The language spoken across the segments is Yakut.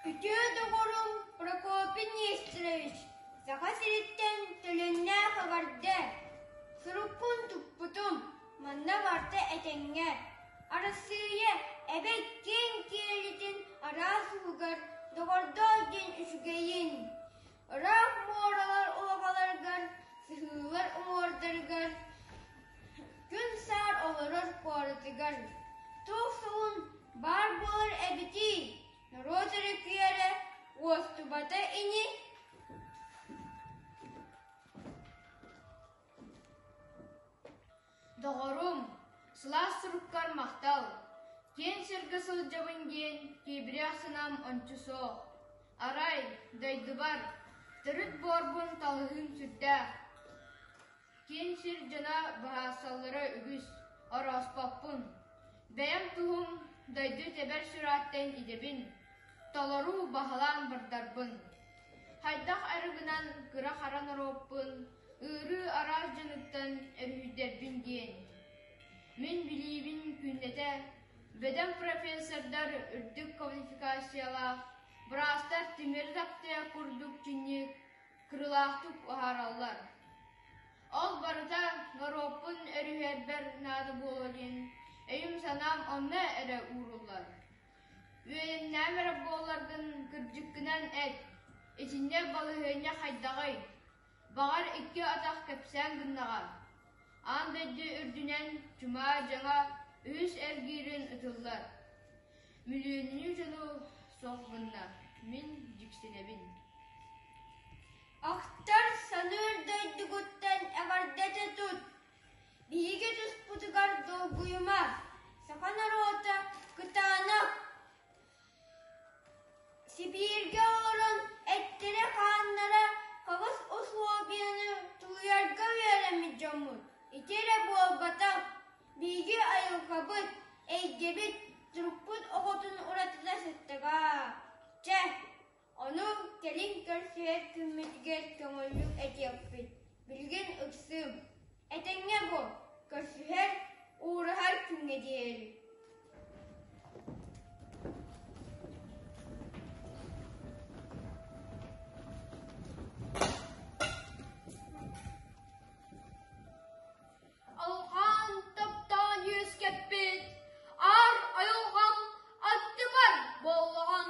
Күтүө доҕорум Прокопий Нестерович Саха сириттэн төлөннөөх эҕэрдэ суруккун туппутум манна барта этэҥҥэ Арассыыйа эбэ киэҥ киэлитин араас уһугар доҕордоо диэн үчүгэйин Ыраах муоралар уобаларыгар, сыһыылар уҥуордарыгар, күн саар олорор куоратыгар туох суһун баар буолар эбитий? Норуот өрүкүйэрэ уостубата ини Доҕорум, сылаас суруккар махтал, киэҥ сиргэ сылдьабын диэн киэбирэх санаам ончу суох. Арай, дойдубар, төрүт буорбун талыһыым сүрдээх. Киин сир дьоно быһаарсаллара үгүс, орооспоппун. Бэйэм туһум дойду тэбэр сүрааттан идэбин, толору баһылаан бардарбын. Хайдах эрэ гынан кыра-хара норуоппун Ыарыы араас дьонуттан өрүһүйдэрбин диэн, мин билиибин күннэтэ бөдөҥ профессордар үрдүк квалификациялаах, быраастар тимир таптыа курдук чинчик, кырылаахтык уһаараллар. Ол барыта норуоппун өрүһүйэрбэр наада буолуо диэн өйүм-санаам онно эрэ ууруллар. Үөйэннэм эрэ буолларгын кырдьыккынан эт, итиннэ балаһыанньа хайдаҕый? Баҕар, икки атах кэпсээн гыннаҕа, аан дойду үрдүнэн чумаа дьаҥа үһүс эргиирин ытыллар. Мүлүөннүү дьону суох гынна, мин дьиксинэбин Ахтар саныыр дойдугуттан эҕэрдэтэ тут! Биһиги туспутугар долгуйума! Саха норуота кытаанах! Сибииргэ олорон эттэрэ-хааннара хаҕыс усулуобуйаны тулуйарга үөрэммит дьоммут ити эрэ буолбатах, биһиги айылҕабыт, эйгэбит, турукпут охотун уратыта сыттыга. Чэ Ону кэлин көрсүһэр күммүтүгэр көҥүллүк этиэхпит, билигин ыксыым, этэҥҥэ буол, көрсүһэр, уураһар күҥҥэ диэри Алҕаан таптаан үөскэппит аар айылҕам аттыбар боллоҕон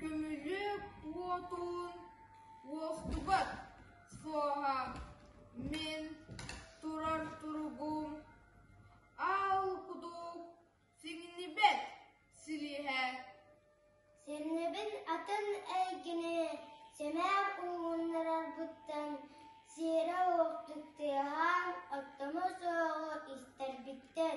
Күнү-уотун уохтубат суоһа мин турар туругум Аал кудук сиҥнибэт силиэһэ Сэрнэбин атын эйгэни сэмээр ууннарарбыттан сиэрэ-уоттук тыаһаан оттомо суоҕу истэрбиттэр